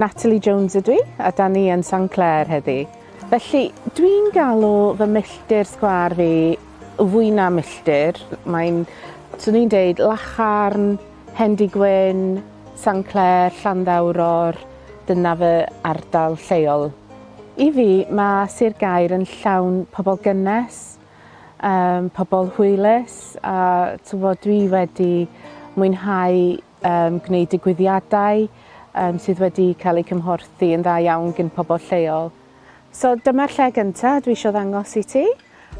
Natalie Jones ydw i, a da ni yn San Clair heddi. Felly, dwi'n galw fy milltir sgwâr fi fwy na milltir. Mae'n, swn i'n deud, Lacharn, Hendy Gwyn, San Clair, Llanddawror, dyna fy ardal lleol. I fi, mae Sir Gaer yn llawn pobl gynnes, um, pobl hwylus, a tyfod, dwi wedi mwynhau um, gwneud digwyddiadau um, sydd wedi cael eu cymhorthu yn dda iawn gyn pobl lleol. So dyma'r lle gyntaf dwi eisiau ddangos i ti.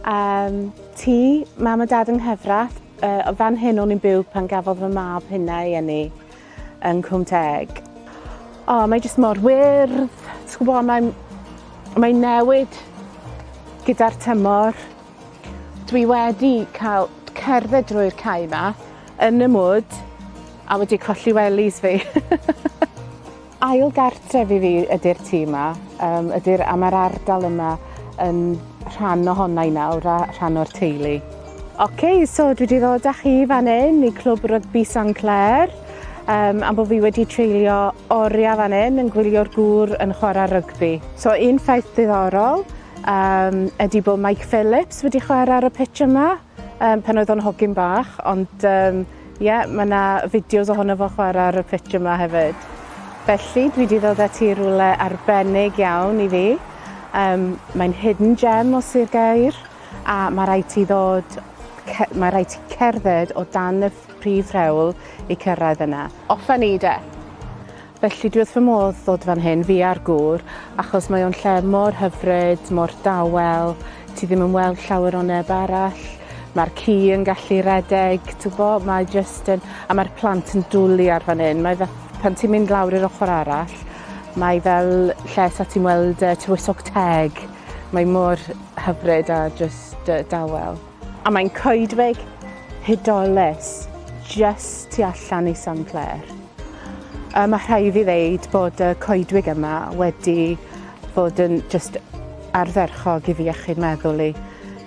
Um, ti, mam a dad yng Nghyfrath, uh, fan hyn o'n i'n byw pan gafodd fy mab hynna i enni yn Cwm Teg. O, oh, mae jyst mor wyrdd, ti'n gwybod, mae'n mae newid gyda'r tymor. Dwi wedi cael cerdded drwy'r cae 'ma yn y mwd a wedi colli wellies fi. Ail gartref i fi ydi'r tŷ 'ma yym ydi'r a ma'r ardal yma yn rhan ohona i nawr a rhan o'r teulu. Oce so dwi 'di ddod â chi fan 'yn i Clwb Rygbi San Clair yym am bo' fi wedi treulio oria fan 'yn yn gwylio'r gŵr yn chwara rygbi. So un ffaith diddorol Yym, ydy bod Mike Phillips wedi chwarae ar y pitch yma, um, pan oedd o'n hogyn bach, ond um, yeah, mae yna fideos ohono fo chwarae ar y pitch yma hefyd. Felly, dwi wedi dod ati i rwle arbennig iawn i fi. Um, mae'n hidden gem o Sir Gair, a mae rhaid ti ddod mae rhaid ti cerdded o dan y prif rhewl i cyrraedd yna. Offa ni de! Felly dwi wrth fy modd ddod fan hyn, fi a'r gŵr, achos mae o'n lle mor hyfryd, mor dawel, ti ddim yn weld llawer o neb arall, mae'r ci yn gallu redeg, t'wbo, mae jyst yn... A mae'r plant yn dwli ar fan hyn, mae fe... Pan ti'n mynd lawr i'r ochr arall, mae fel lle sa ti'n weld yy Tywysog Teg, mae mor hyfryd a jyst yy dawel. A mae'n coedwig hudolus just tu allan i San Clair. Um, mae rhai fi ddeud bod y coedwig yma wedi bod yn just ardderchog i fi achub meddwl i.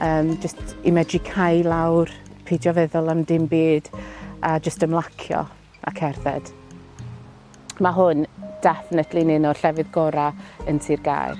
Um, just i medru cael lawr, peidio feddwl am dim byd a just ymlacio a cerdded. Mae hwn definitely yn un o'r llefydd gorau yn Sir Gaer.